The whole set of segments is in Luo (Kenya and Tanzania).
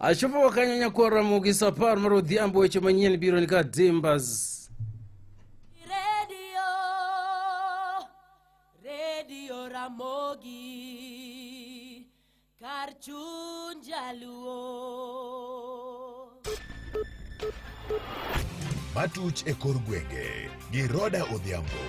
achopo wakanyanya kuwa ramogi sapar mar odhiambo weche manyien biro ni ka dimbas Radio, Radio Ramogi, kar chuny jaluo. matuch e kor gwenge gi roda odhiambo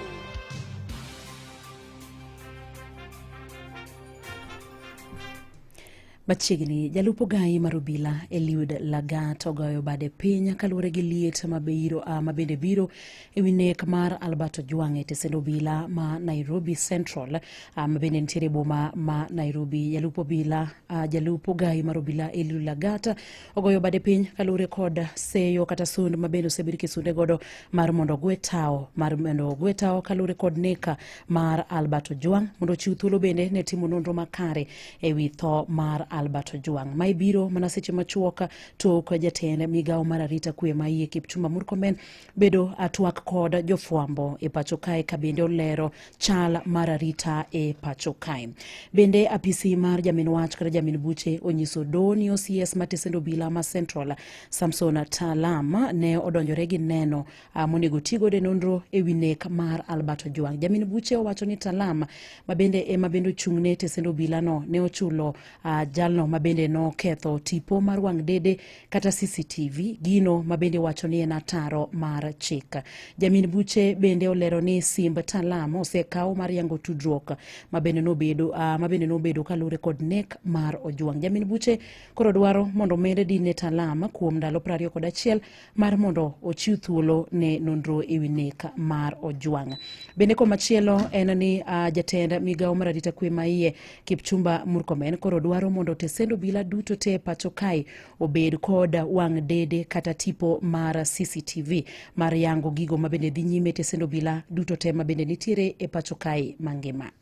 Machiegni, jalup ogayi mar obila Eliud Lagat ogoyo bade piny kaluwore gi liet mabiro, uh, mabende biro e wi nek mar Albert Ojwang e tesend obila ma Nairobi Central uh, mabende nitiere e boma ma Nairobi. Jalup obila uh, jalup ogayi mar obila Eliud Lagat ogoyo bade piny kaluwore kod seyo kata sund mabende osebed kisunde godo mar mondo ogwe tawo mar mondo ogwe tawo kaluwore kod neka mar Albert Ojwang mondo ochiw thuolo bende ne timo nonro makare e wi tho mar Albert Ojwang. Ma ibiro mana seche machuok tok jatend migawo mar arita kwe ma iye Kipchumba Murkomen bedo atwak kod jofwambo e pacho kae ka bende olero chal mar arita e pacho kae. Bende apisi mar jamin wach kata jamin buche onyiso doho ni OCS matesend obila ma Central Samson Talama ne odonjore gi neno Ah, monego ti godo e nonro e wi nek mar Albert Ojwang. Jamin buche owacho ni Talam mabende ema bende ochung' ne tesend obilano ne ochulo uh, jalno mabende noketho tipo mar wang' dede kata CCTV gino mabende wacho ni en ataro mar chik. Jamin buche bende olero ni simb Talam osekaw mar yango tudruok mabende nobedo uh, ah, mabende nobedo kaluwore kod nek mar Ojwang. Jamin buche koro dwaro mondo omede din ne Talam kuom ndalo 21 mar mondo ochiw thuolo ne nonro e wi nek mar Ojwang. Bende komachielo en ni uh, jatend migawo mar arita kwe ma iye Kipchumba Murkomen koro dwaro mondo tesend obila duto te pacho kae obed kod wang' dede kata tipo mar CCTV mar yango gigo mabende dhi nyime tesend obila duto te mabende nitiere e pacho kae mangima.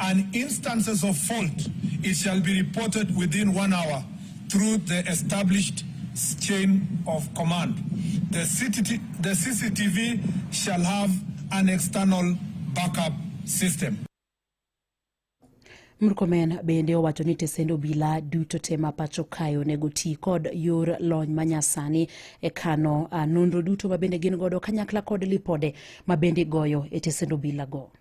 and instances of fault it shall be reported within one hour through the established chain of command. The, CCTV, the CCTV shall have an external backup system. Murkomen bende owacho ni tesend obila duto te ma pacho kae onego ti kod yor lony manyasani e kano ah, nonro duto ma bende gin godo kanyakla kod lipode ma bende igoyo e tesend obilago.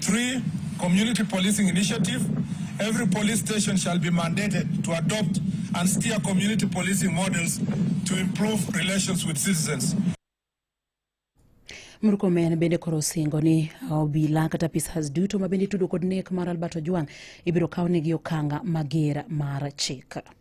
Three, community policing initiative. Every police station shall be mandated to adopt and steer community policing models to improve relations with citizens. Murkomen bende koro osingo ni obila kata apisas duto ma bende itudo kod nek mar Albert Ojwang' ibiro kawnegi okanga mager mar chik.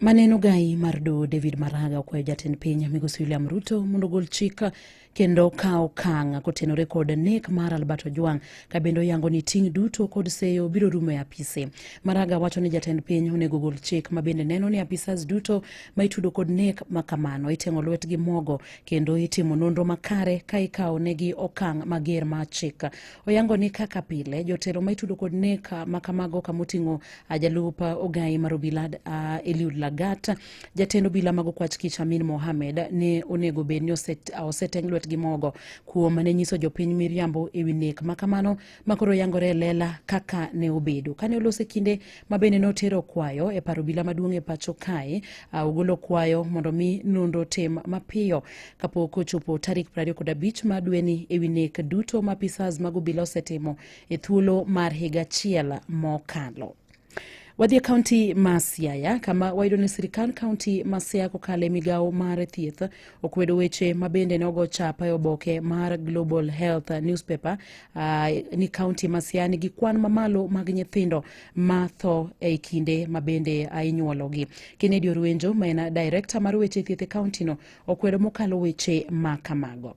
Maneno gai mar doho David Maraga okwayo jatend piny migosi William Ruto mondo ogol chik kendo kawo okang' kotenore kod nek mar Albert Ojwang' ka bende oyango ni ting' duto kod seyo biro rumo e apise. Maraga wacho ni jatend piny onego ogol chik ma bende neno ni apisas duto ma itudo kod nek ma kamano iteng'o lwetgi mogo kendo itimo nonro makare ka ikawo negi okang' mager ma chik. Oyango ni kaka pile jotelo ma itudo kod nek ma kamago kama oting'o Ajalup ogayi mar obila uh, Eliud Lagat, jatend obila mag okwach kich Amin Mohamed ne onego bed ni oseteng lwet gi mogo kuom ne nyiso jopiny miriambo e wi nek ma kamano ma koro yangore e lela kaka ne obedo. Kane olose kinde ma bende notero kwayo e paro obila maduong' e pacho kae, uh, ogolo kwayo mondo mi nonro tim mapiyo kapok ochopo tarik 25 ma dweni e wi nek duto ma apisas mag obila osetimo e thuolo mar higa achiel mokalo. Wadhi e kaunti ma Siaya kama wayudo ni sirikal kaunti ma Siaya kokalo e migawo mar thieth okwedo weche ma bende nogo chapa e oboke mar Global Health newspaper uh, ni kaunti ma Siaya nigi kwan mamalo mag nyithindo ma tho e kinde ma bende ah, inyuologi. Kennedy Orwenjo ma en director mar weche thieth e kauntino okwedo mokalo weche ma kamago.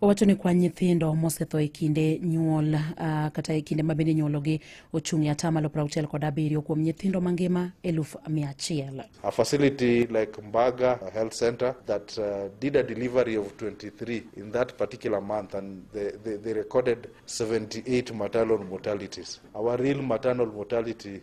Owacho ni kwan nyithindo mosetho e kinde nyuol uh, kata e kinde ma bende nyuologi ochung' e atamalo 60 kod abiriyo kuom nyithindo mangima eluf mia achiel. A facility like Mbaga Health Center that uh, did a delivery of 23 in that particular month and they, they, they recorded 78 maternal mortalities. Our real maternal mortality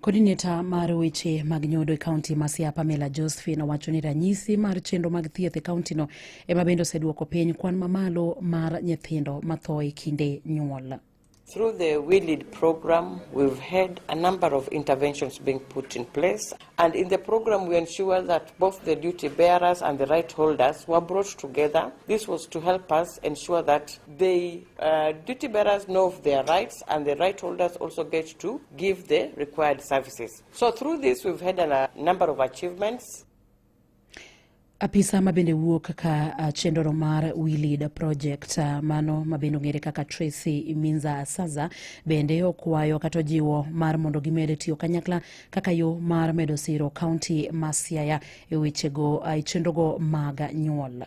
Kodineta mar weche mag nyodo e kaunti ma Siaya Pamela Josephine owacho ni ranyisi mar chenro mag thieth e kauntino ema bende oseduoko piny kwan mamalo mar nyithindo matho e kinde nyuol. Through the We Lead program, we've had a number of interventions being put in place. And in the program, we ensure that both the duty bearers and the right holders were brought together. This was to help us ensure that they Uh, duty bearers know of their rights and the right holders also get to give the required services. So through this we've had a uh, number of achievements. Apisa ma bende wuok kaka uh, chenro mar We Lead Project uh, mano ma bende ong'ere kaka Tracy Minza Saza bende okwayo kata ojiwo mar mondo gimed tiyo kanyakla kaka yo mar medo siro kaunti ma Siaya e wechego e chenrogo mag nyuol.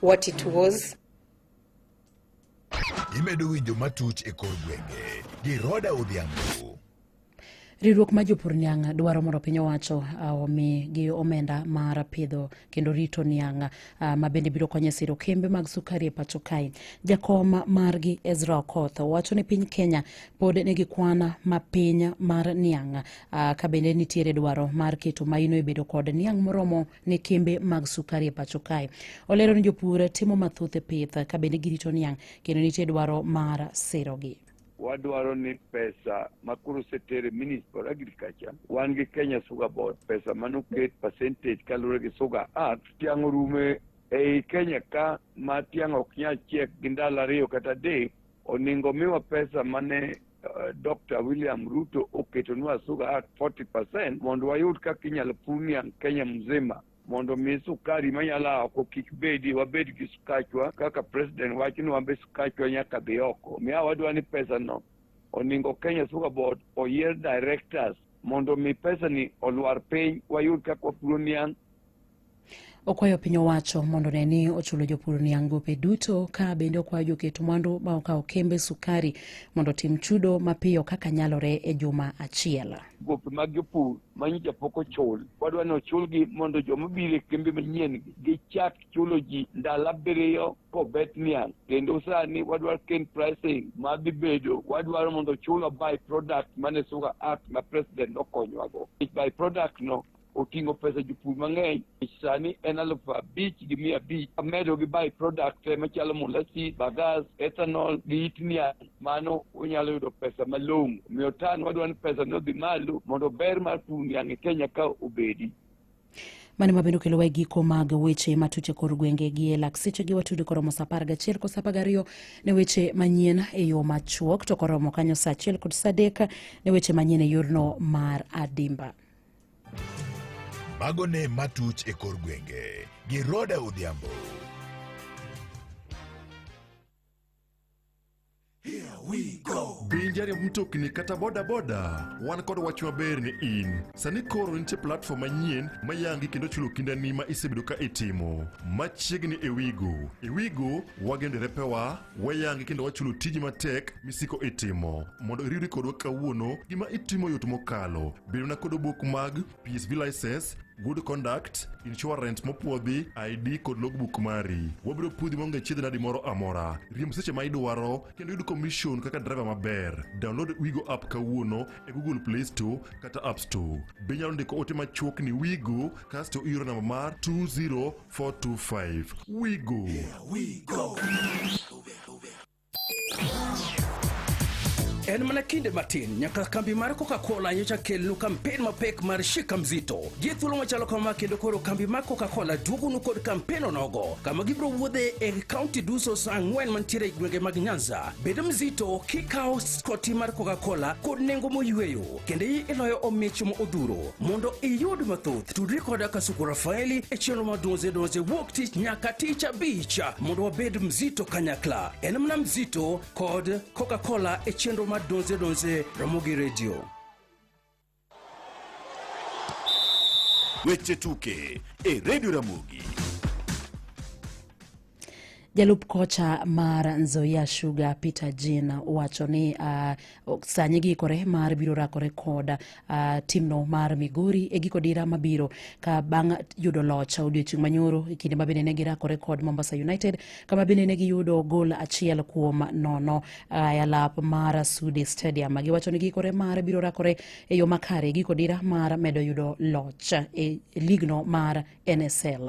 what it was. Imedo winjo matuch e kor gwenge gi Roda Odhiambo. Riwruok ma jopur niang' dwaro mondo piny owacho uh, omi gi omenda mar pidho kendo rito niang' uh, ma bende biro konyo e siro kembe mag sukari e pacho kae. Jakom margi Ezra Okoth wacho ni piny Kenya pod nigi kwan mapiny mar niang' uh, ka bende nitiere dwaro mar keto maino e bedo kod niang' moromo ne kembe mag sukari e pacho kae. Olero ni jopur timo mathoth e pith ka bende girito niang' kendo nitie dwaro mar sirogi. wadwaro ni pesa ma koro osetere Ministry for Agriculture, wan gi Kenya Sugar Board, pesa manoket percentage kaluwore gi Sugar Act, tiang' orume ei Kenya ka ma tiang' ok nyal chiek gi ndalo ariyo kata adek, oningo miwa pesa mane Uh, Dr. William Ruto oketonwa suga at 40% mondo wayud kaka inyalo premium Kenya mzima mondo mi sukari manyala oko kik bedi wabed gi sukachwa kaka president wacho ni wambe sukachwa nyaka dhi oko miya wadwa ni pesa no oningo Kenya Sugar Board oyier directors mondo mi pesa ni olwar piny wayud kaka wapuro niang' Okwayo piny owacho mondo ne ni ochulo jopur niang' gope duto ka bende okwayo joket mwandu ma okawo kembe sukari mondo otim chudo mapiyo kaka nyalore e juma achiel. Gope mag jopur ma nyocha pok ochul wadwa ni ochulgi mondo joma biro e kembe manyien gichak chulo ji ndalo abiriyo kobet niang' kendo sani wadwaro ken pricing ma dhi bedo wadwaro mondo ochulwa by product mane Sugar Act ma president nokonyowago. By product no oting'o pesa jopur mang'eny sani en alufu abich gi mia abich amedo gi by product machalo molasi bagas ethanol gi it niang' mano unyalo yudo pesa malong'o omiyo tan wadwa ni pesa ni odhi malo mondo ber mar pur niang' e kenya ka obedi mane ma bende okelowa e giko mag weche matut e kor gwenge gi e lak sechegi watudo koromo sa apar gachiel kod sa apar gariyo ne weche manyien e yo machuok to koromo kanyo sa achiel kod sa adek ne weche manyien e yorno mar adimba Mago ne matuch e kor gwenge gi Roda Odhiambo. Pinjari mtokni kata bodaboda wan kod wach maber ni in sani koro nitie platform manyien mayangi kendo chulo kindani ma isebedo ka itimo machiegni e wigo e wigo wagendore pewa Wayangi kendo wachulo tiji matek misiko itimo. Mondo iriwri kodwa kawuono, gima itimo yot mokalo. Bedona kod obok mag PSV license, good conduct, insurance mopwodhi, ID kod logbook mari. Wabiro pudhi maonge chiedh nadi moro amora. Riemb seche ma idwaro kendo yud commission kaka driver maber. Download Wigo app kawuono e Google Play Store kata App Store. Be inyalo ndiko ote machuok ni Wigo kasto ioro namba mar 204 425. We go. Yeah, we go. En mana kinde matin nyaka kambi mar Coca-Cola nyocha kelnu kampen mapek mar Shika Mzito. Gi thuolo machalo kama kendo koro kambi mar Coca-Cola duogonu kod kampen onogo kama gibiro wuodhe e kaunti duso sa ang'wen mantiere e gwenge mag Nyanza. Bedo mzito kikawo skoti mar Coca-Cola kod nengo moyweyo. kendo iloyo omich ma odhuro mondo iyud mathoth tudri koda kasuku rafaeli e chenro mar donze donze wuok tich nyaka tich abich mondo wabed mzito kanyakla en mana mzito kod coca-cola e chenro mar donze donze ramogi redio weche tuke e redio ramogi Jalup kocha mar Nzoia Sugar Peter Jean wacho ni uh, sani giikore mar biro rakore kod uh, timno mar Migori e giko dira mabiro ka bang' yudo loch odiochieng' manyoro e kinde ma bende ne girakore kod Mombasa United kama bende ne giyudo gol achiel kuom nono uh, e alap mar Sudi Stadium. Giwacho ni giikore mar biro rakore e yo makare e giko dira mar medo yudo loch e ligno mar NSL.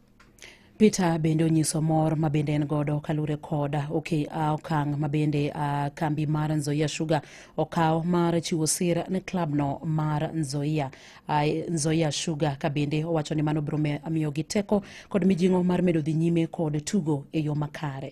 Peter bende onyiso mor ma bende en godo kalure kod okay, uh, okang' ma bende uh, kambi mar Nzoia Sugar okawo mar chiwo sir ne klabno mar Nzoia, uh, Nzoia Sugar ka bende owacho ni mano biro miyogi teko kod mijing'o mar medo dhi nyime kod tugo e yo makare.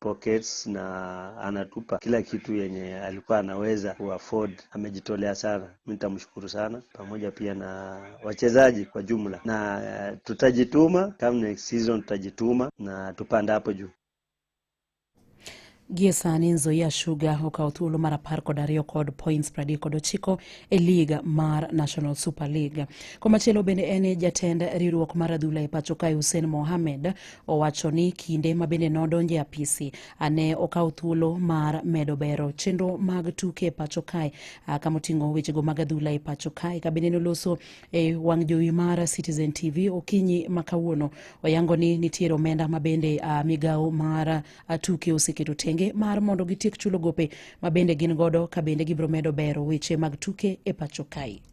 pockets na anatupa kila kitu yenye alikuwa anaweza kuafford. Amejitolea sana, mi nitamshukuru sana, pamoja pia na wachezaji kwa jumla, na eh, tutajituma kama next season, tutajituma na tupanda hapo juu. Gie sani Nzoia Sugar okawo thuolo mar apar kod ariyo kod points pradek kod ochiko e lig mar National Super League. Komachielo bende en jatend riwruok mar adhula e pacho kae Hussein Mohamed Owacho ni kinde ma bende nodonjo e apisi ne okawo thuolo mar medo bero chenro mag tuke e pacho kae kama oting'o wechego mag adhula e pacho kae ka bende noloso e wang' jowi mar Citizen TV okinyi ma kawuono oyango ni nitiere omenda ma bende migawo mar tuke oseketo tenge mar mondo gitiek chulo gope ma bende gin godo ka bende gibiro medo bero weche mag tuke e pacho kae.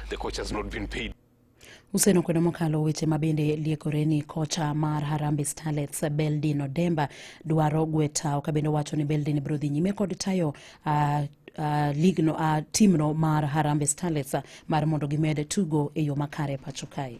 The coach has not been paid. Useno kwedo mokalo weche ma bende liekore ni kocha mar Harambee Starlets Beldin Odemba dwaro gwetawo ka bende owacho ni Beldin biro dhi nyime kod tayo uh, uh, ligno uh, timno mar Harambee Starlets uh, mar mondo gimed tugo e yo makare pacho kae.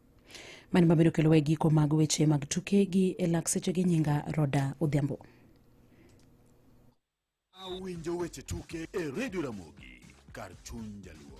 mani ma biro kelowa e giko mag weche mag tuke gi e lak seche gi nyinga roda odhiambo awinjo weche tuke e redio ramogi kar chuny jaluo